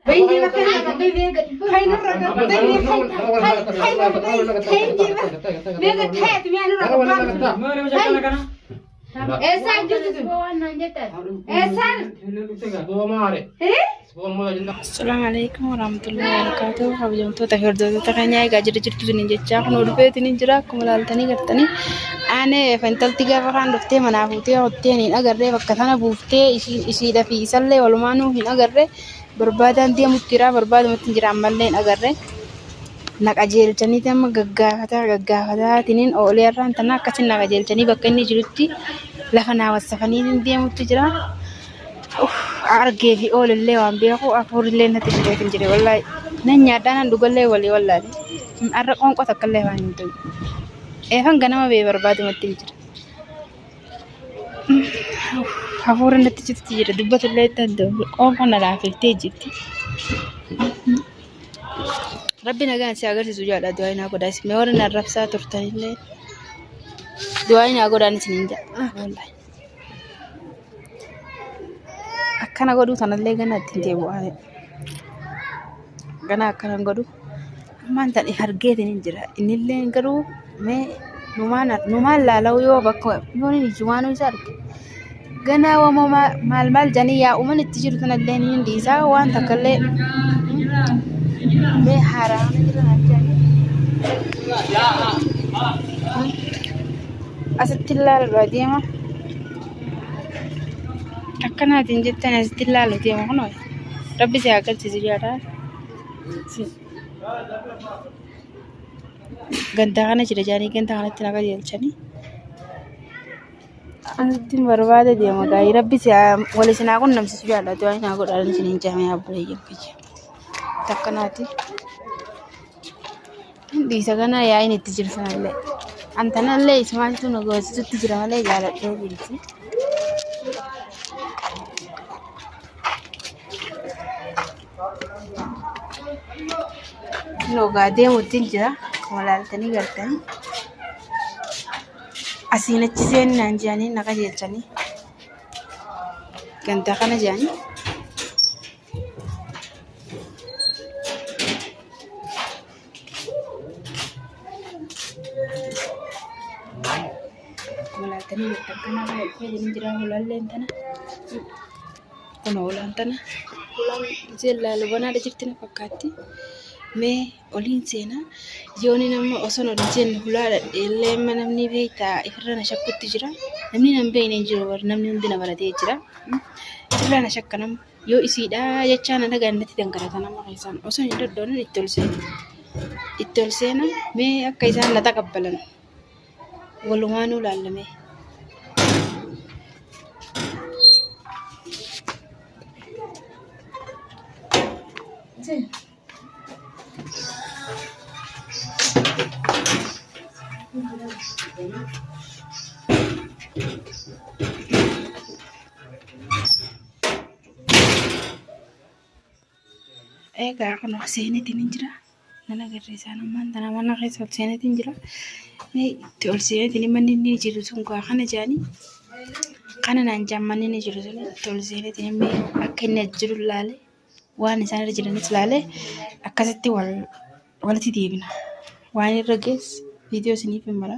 Bayyee bakka nama bayyee gadi fayyina irra gadi bayyee fayyina fayyina fayyina meeqa ta'eeti mi'a nurra gabbaa Mana nama jakkana kana. eessaa jirtu sun waan naan jettan eessaan Assalamu alaikum warahmatullahi wabarakatuh. Kabajamtoota fi hordoftoota keenya egaa jira jirtu isiniin jechaa kun dhufeetiin hin jira akkuma ilaaltanii gartanii aanee fintalti gaafa kaan dhuftee manaa fuutee hottee hin agarree bakka sana buuftee ishiidha fi isallee walumaanuu hin agarree barbaadaan deemutti jira barbaadumatti hin jira ammallee hin agarre na qajeelchaniiti amma gaggaafataa gaggaafataatiin oolee irraan tana akkasiin na qajeelchanii bakka inni jirutti lafa naa wassafanii hin deemutti jira. Uff, argee fi oolillee waan beeku afuurillee natti fidee hin jire wallaahi nan nyaadhaa nan dhugallee walii wallaahi har'a qoonqoo takkallee waan hin ta'u. Eefan ganama bee barbaadumatti hin jira. Hafuura natti jirti jedha dubbatu illee itti adda'u qoonqoo na laafiftee jirti. Rabbi nagaan si agarsiisu jaadha du'aa naa godhaa isin warri na rabsaa turtan illee du'aa naa godhaan isin hin jaadha. Akkana godhuu tanallee gana ittiin deebi'aa. Gana akkana godhuu. Ammaan tan hargeetiin hin jira. Innillee garuu mee numaan numaan laalau yoo bakka yoo ni ijji waan isa arge. Ganaa wama maa- maal maal janii yaa uuman itti jiru tanallee ni hin dhiisaa waan takkallee mee haaraa na jira naan jedhanii. Asitti ilaalaa deema. Akkanaatiin jettan asitti ilaalaa deema kunoo. Rabbi si haa galchisu jaalaa. gandaa kana jira jaanii gandaa kanatti na qajeelchanii asitti hin barbaade deema gaa'ii rabbi si wal isin haa qunnamsiisu jaallatu waan naa godhaan isin hin jaamee abbuleeyyan kiyya takka naati dhiisa kana yaa'iin itti jiru sanallee antanallee ismaaltu na goosisutti jira malee jaaladhee jirti. Loogaa deemuutiin jira. Akkuma laaltanii galtanii. Asiin achi seennaan jedhanii na qajeelchanii. Gandaa kana jedhanii. Akkuma laaltanii galtan kana baay'ee jira. Hulaalleen tana. Kun hoolaan tana hoolaan isheen laalubanaadha jirti na fakkaatti. Mee oliin seenaa yooniin amma osoon ol jennu hulaadha illee amma namni beektaa ifirra na shakkutti jira. Namni nan beekne hin jiru bar namni hundi na baratee jira. Ifirra na shakka nama yoo isiidha jechaa na dhagaan natti dangarata nama keessaan osoo hin doddoonin itti ol seena. Itti ol seena mee akka isaan na taqabbalan. Walumaanuu laallamee. Egaa kun of seenetiin hin jira. Nan agarsiisaan ammaan tana mana keessa ol seenetiin jira. Mee itti ol seenetiin manni inni jiru sun gaa kana jaanii kana naan jaan manni inni jiru sun itti ol seenetiin mee akka inni as jiru laale waan isaan irra jiranis laale akkasitti wal walitti deebina. Waan irra gees viidiyoo isiniif hin mara.